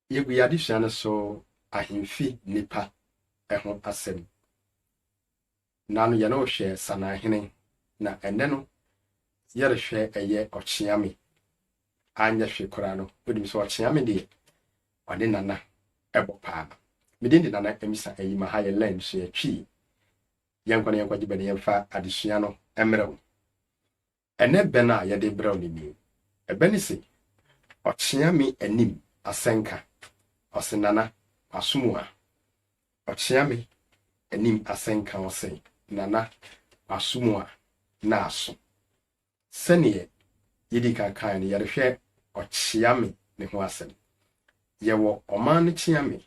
Yegu y'adesua no so ahemfi nnipa ho asɛm. Nna no yɛne wo hwɛ Sananhene na ɛnnɛ no yɛrehwɛ ɛyɛ Ɔkyeame. Anyɛ hwe koraa no wonim sɛ Ɔkyeame deɛ ɔne Nana ɛbɔ paa. Me din de Nana Amisa Ayima ha yɛ Learn Sua Twi. Yɛnkɔ na yɛnkɔgye bɛ na yɛmfa adesua no mmrɛ wo. Ɛnnɛ bɛn a yɛde rebrɛ wo no ni. Ɛbɛ no se, Ɔkyea me anim asɛnka. Ɔse, Nana, masom wo a. Ɔkyea me anim asɛnka ɔse, Nana, masom wo a, na aso. Sɛdeɛ yɛdii kan kaeɛ no, yɛrehwɛ ɔkyea me no ho asɛm. Yɛwɔ ɔman no kyea me,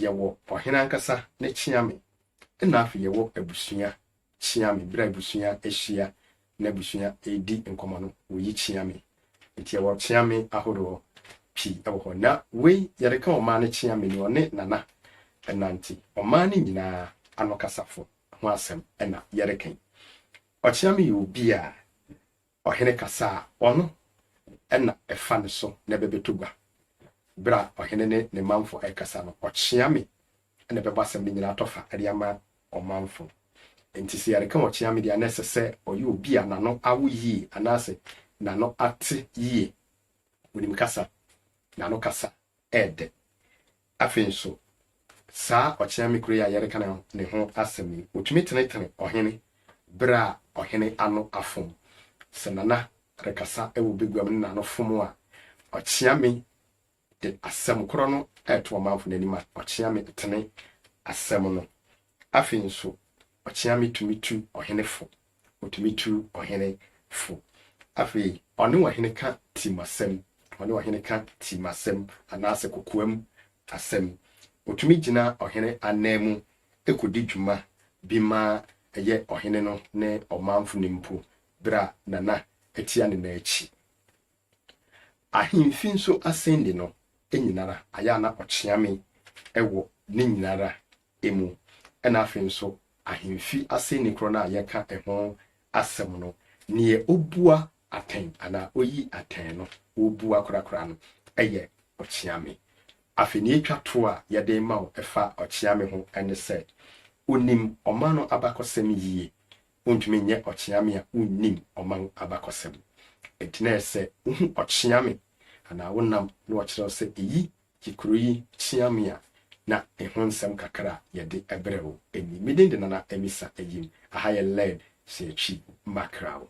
Yɛwɔ ɔhene ankasa ne kyeame ɛna afei yɛwɔ abusua kyeame berɛ a abusua ahyia na abusua redi nkɔmmɔ no wɔyi kyeame nti yɛwɔ kyeame ahoroɔ pii wɔ hɔ na wei yɛde ka ɔmaa no kyeame ni ɔne nana ɛna nti ɔmaa no nyinaa anokasafo ho asɛm ɛna yɛde kan ɔkyeame yɛ obi a Ɔhene kasa a, ɔno na ɛfa ne so na ɛbɛbɛtɔ gua. Berɛ a ɔhene ne ne manfo rekasa no, ɔkyea me na ɛbɛbɔ asɛm no nyinaa tɔfa de ama ɔmanfo. Enti sɛ yɛreka ɔkyea me deɛ a, na ɛsɛ sɛ ɔyɛ obi a n'ano awo yie anaasɛ n'ano ate yie. Ɔnim kasa. N'ano kasa yɛ dɛ. Afei nso, saa ɔkyeame koro yi a yɛreka ne ho asɛm yi, otumi tenetene ɔhene bere a ɔhene ano afom. Sɛ Nana rekasa wɔ baguam na n'ano fom a, ɔkyeame de asɛm koro no reto ɔmanfo no anim a ɔkyeame tene asɛm no. Afei nso, ɔkyeame tumi tu ɔhene fo Otumi tu ɔhene fo. Afei ɔne ɔhene ka tim asɛm, ɔne ɔhene ka tim asɛm anaasɛ kokoam asɛm. Otumi gyina ɔhene ananmu kodi dwuma bi ma ɛyɛ ɔhene no ne ɔmanfo no mpo bere a Nana atia ne nan akyi. Ahemfi nso asɛndi no nyinara ayɛ a na ɔkyeame wɔ ne nyinara mu, ɛna afei nso ahemfi asɛnni korɔ no a yɛka ɛho asɛm no, neɛ obua atɛn anaa oyi atɛn no, obua korakora no yɛ ɔkyeame. Afei neɛ etwa toɔ a yɛde rema wo ɛfa ɔkyeame ho ne sɛ, onim ɔman no abakɔsɛm yie, Wontumi nyɛ ɔkyeame a wonnim ɔman abakɔsɛm. Enti na ɛsɛ sɛ wohu ɔkyeame anaa wonam na wɔkyerɛw sɛ eyi ye kurow yi kyeame a na eho nsɛm kakra a yɛde brɛ wo ni. Me din de Nana Amisa Ayim. Aha yɛ Lɛd Seatwi Makraw.